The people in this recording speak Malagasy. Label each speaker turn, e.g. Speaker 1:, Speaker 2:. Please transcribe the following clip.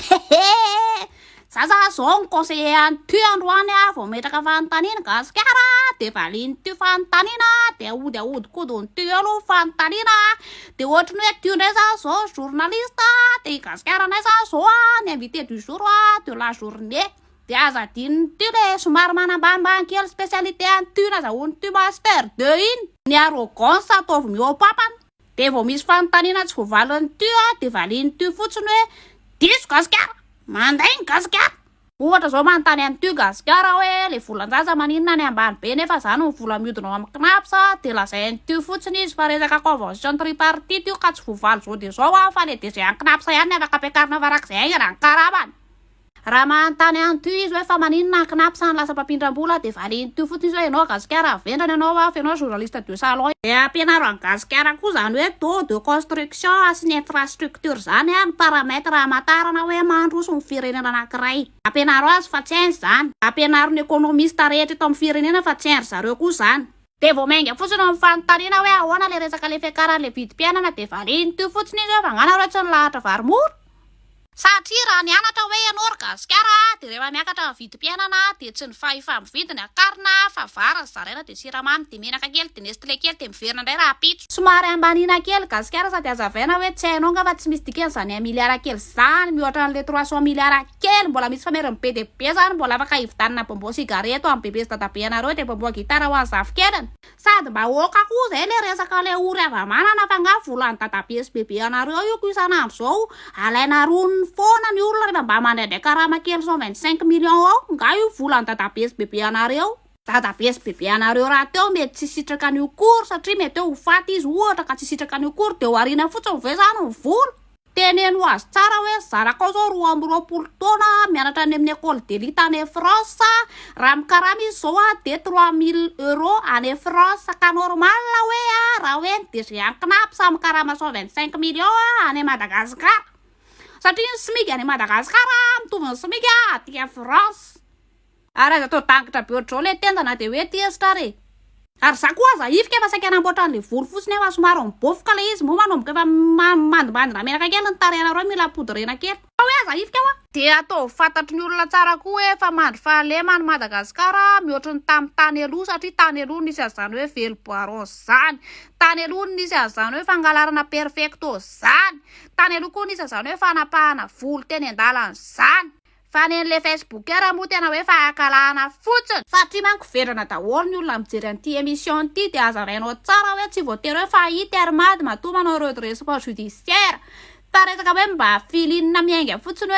Speaker 1: Hehe! Za za zao ny conseiller any tu androany a vao metraka fanontaniana gasikara de valiany tu fanontaniana de aody aodikodiny tu eo aloha fanontaniana de ohatry ny hoe tu ndray za zao journaliste de i gasikara ndray za zao a ny invité du jour a de la journée de aza adinony tu le somary manambanimbany kely spécialité any tu nazahoany tu master de iny ny arrogance ataovy mihoapapana Dia vao misy fanontaniana tsy voavalin'ny tu a, dia valian'ny tu fotsiny hoe, diso Gasikara! Mandainga Gasikara! Ohatra zao manontany an'i tu Gasikara hoe, le volan-jaza maninona any ambany be nefa zany ny vola miodina ao amin'ny cnaps a, dia lazain'i tu fotsiny izy fa resaka convention tripartite io ka tsy voavaly zao dia zao a, fa le DG any cnaps ihany ny afaka ampiakarina farak'izay haingana ny karamany. Raha manontany an'i Thu izy hoe fa maninona ny Cnaps no lasa mpampindram-bola dia valin'i Thu fotsiny izy hoe ianao Gasikara avy vendrana ianao avy ianao journaliste de salon e. Dia ampianaro an'i Gasikara koa izany hoe taux de construction sy ny infrastructure izany ary ny paramètre hamantarana hoe mandroso ny firenena anankiray. Ampianaro azy fa tsy hainy izany. Ampianaro ny economiste rehetra eto amin'ny firenena fa tsy hain-dry zareo koa izany. Dia vao mainga fotsiny eo amin'ny fanontaniana hoe ahoana ilay resaka ilay fiakaran'ilay vidim-piainana dia valin'i Thu fotsiny izy hoe fa nga nareo tsy nilahatra vary mora? Satria raha nianatra hoe ianao ry gasikara dia rehefa miakatra ny vidim-piainana dia tsy ny fahefa-mividy ny akarina fa vary no zaraina dia siramamy dia menaka kely dia nestlé kely dia miverina indray rahampitso. Somary ambaniana kely gasikara sady hazavaina hoe tsy hainao nga fa tsy misy dikany zany un milliard kely zany mihoatra anle trois cent milliard kely mbola misy fameriny be dia be zany mbola afaka hividanana bonbon sy higareto any bebe sy dadabe anareo dia bonbon guitare ho an'ny zafikeliny Sady bahoaka koa zay le resaka le ory havamanana fa nga volan'ny dadabe sy bebe anareo io ko isan'andro zao alaina roniny foana ny olona refa mba mandraindray karama kely cent vingt cinq millions ao nga io volan'ny dadabe sy bebe anareo dadabe sy bebe anareo rahateo mety tsy hisitraka an'io kory satria mety hoe ho faty izy ohatra ka tsy hisitraka an'io kory de ho ariana fotsiny ve zany ny vola? Teneno azy tsara hoe zanakao izao roa amby roapolo taona mianatra any amin'ny Ecole d'Elite any France, raha mikarama izy izao a dia trois mille euros any France ka normal hoe a raha hoe ny DG any CNAP samy mikarama cent vingt cinq millions a any Madagascar satria ny smig any Madagascar a mitovy ny smig a aty France. Ary aza atao dangitra be ohatr'izao ilay tenda na dia hoe aty hesitra ary e! Ary za koa aza hifika fa saika hanamboatra an'ilay volo fotsiny aho fa somary mibofoka ilay izy moa manomboka efa mandimandina menaka kely ny tarehina ary hoe mila poudrena kely. Fa hoe aza hifika hoa! Dia ataovy fantatry ny olona tsara koa hoe efa mandry fahalema any Madagasikara mihoatry ny tamin'ny tany aloha satria tany aloha nisy an'izany hoe velom-baron zany, tany aloha nisy an'izany hoe fangalarana perfecto zany, tany aloha koa nisy an'izany hoe fanapahana volo teny an-dalana zany. Fa ny an'le Facebooker moa tena hoe fahakalahana fotsiny. Fa ty manko vendrana daholo ny olona mijery an'ity emission ity dia hazavainao tsara hoe tsy voatery hoe fa i Termady matoa manao redressement judiciaire fa resaka hoe mba filinina miainga fotsiny hoe